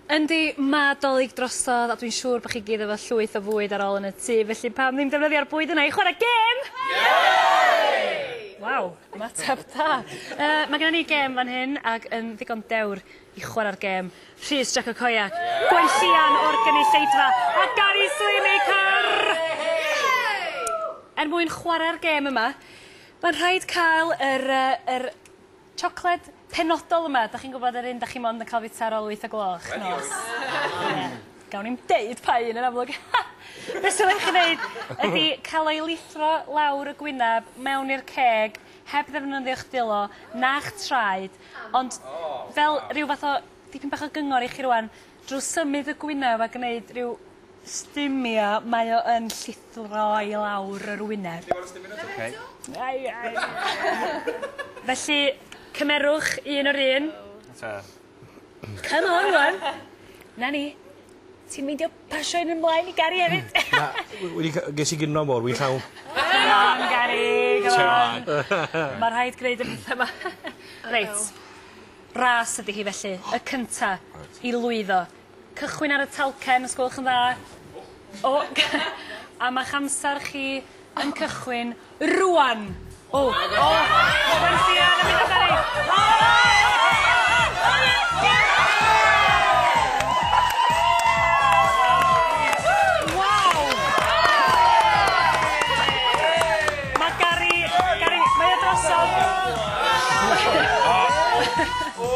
Yndi, mae 'Dolig drosodd a dwi'n siŵr bod chi gyd efo llwyth o fwyd ar ôl yn y tŷ, felly pam ddim defnyddio'r bwyd yna i chwarae gêm? Waw, ymateb da! Yy, mae genna ni gêm fan hyn ac yn ddigon dewr i chwarae'r gêm, Rhys Jac y Coiac, gwenllian o'r gynulleidfa a Gary Sweeney, car! Er mwyn chwarae'r gêm yma, mae'n rhaid cael yr yy yr Chocolate penodol yma, dach chi'n gwybod yr un dach chi mond yn cael fita ar ol wyth o gloch nos? Ie. Gawn ni'm deud pa un yn amlwg. Be' sydd angen chi neud ydi cael o i lithro lawr y gwynab mewn i'r ceg heb ddefnyddio'ch dwylo na'ch traed ond fel rhyw fath o dipyn bach o gyngor i chi rŵan drw symud y gwynaf a gneud rhyw Stumio, mae o yn llithro i lawr yr wyneb. Ti moyn stumio eto? Ocei. Ai ai. Felly, cymerwch un o'r un. Ta. Come on rwan. 'Na ni. Ti'n meindio pasio un ymlaen i Gari efyd? Na, wi wedi ca- ges i gino mowr, wi'n llawn. Come on Gari, come on. Come on. Ma' rhaid gneud y petha 'ma. Reit. Ras ydi hi felly, y cynta i lwyddo. Cychwyn ar y talcen os gwelwch yn dda. O! A ma'ch amser chi yn cychwyn rŵan! O! O! Rŵan ti yn mynd amdani! O! Waw! Ma' Gary, Gary, mae o drosodd. O! O!